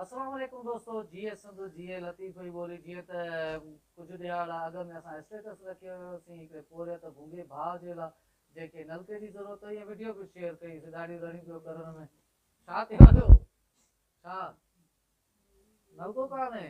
السلام عليڪم دوستو جيئي سنڌ جيئي لطيف جي ٻولي جيئن ته ڪجهه ڏهاڙا اڳ ۾ اسان اسٽيٽس رکي هيوسين هڪڙي پورهيت ڀونگي ڀاء جي لا جنهن کي نلڪي جي ضرورت هئي ۽ وڊيو به شيئر ڪئي سي ڏاڙهي رڙهين پيو ڪرڻ ۾ ڇا ٿي ويو ڇا نلڪو ڪانهي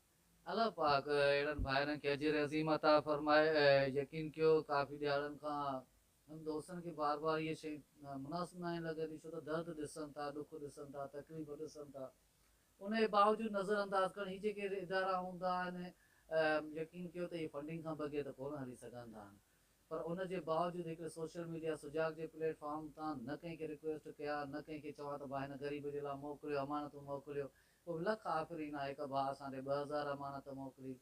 الله پاڪ اهڙن ڀائرن کي اجر عظيم عطا فرمائي ۽ يقين ڪيو ڪافي ڏهاڙن کان هن دوستن کي بار بار اهي شيون مناسب ناهن لڳنديون ڇو ته درد ڏسن ٿا ڏک ڏسن ٿا تڪليف ڏسن ٿا انهي باوجود نظر انداز ڪرڻ هي جيڪي ادارا هوندا آهن يقين ڪيو ته اهي فنڊنگ کان بغير ته ڪونه هلي سگهندا آهن پر ان جي باوجود هڪڙي سوشل ميڊيا سجاڳ جي پليٽ فارم تان نه ڪنهن کي رڪويسٽ ڪيا نه ڪنهن کي چوان ته ڀاء هن غريب جي لا موڪليو امانتون موڪليو پوء لک آفرين آ هڪ ڀاء اسان ڏي ٻه هزار امانت موڪلي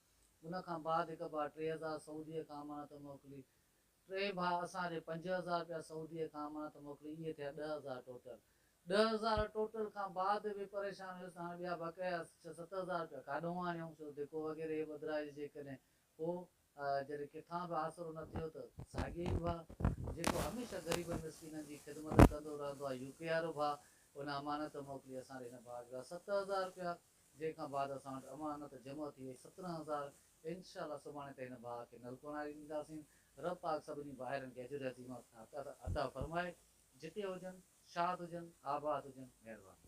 ان کان بعد هڪ ڀاء ٽي هزار سعوديء کان امانت موڪلي ٽئين ڀاء اسان ڏي پنج هزار رپيا سعوديء کان امانت موڪلي اهي ٿيا ڏهه هزار ٽوٽل ڏهه هزار ٽوٽل کان بعد به پريشان هيس ته هاڻي ٻيا بقايا ڇهه ست هزار رپيا ڪاڏهون آڻيون ڇو ڌڪو وغيره هي ٻڌرائجي جيڪڏهن پوء جڏهن ڪٿان به آسرو نه ٿيو ته ساڳيو ئي ڀاء جيڪو هميشه غريبن مسڪينن جي خدمت ڪندو رهندو آهي يو پي وارو ڀاء ان امانت موڪلي اسان ڏي هن ڀاء جا ست هزار رپيا جنهن کان بعد اسان وٽ امانت جمع ٿي وئي سترهن هزار انشاء الله سڀاڻي تائين هن ڀاء کي نلڪو هڻائي ڏينداسين رب پاڪ سڀني ڀائرن کي اجر عظيم عطا فرمائي جتي هجن شاد هجن آباد هجن مهرباني.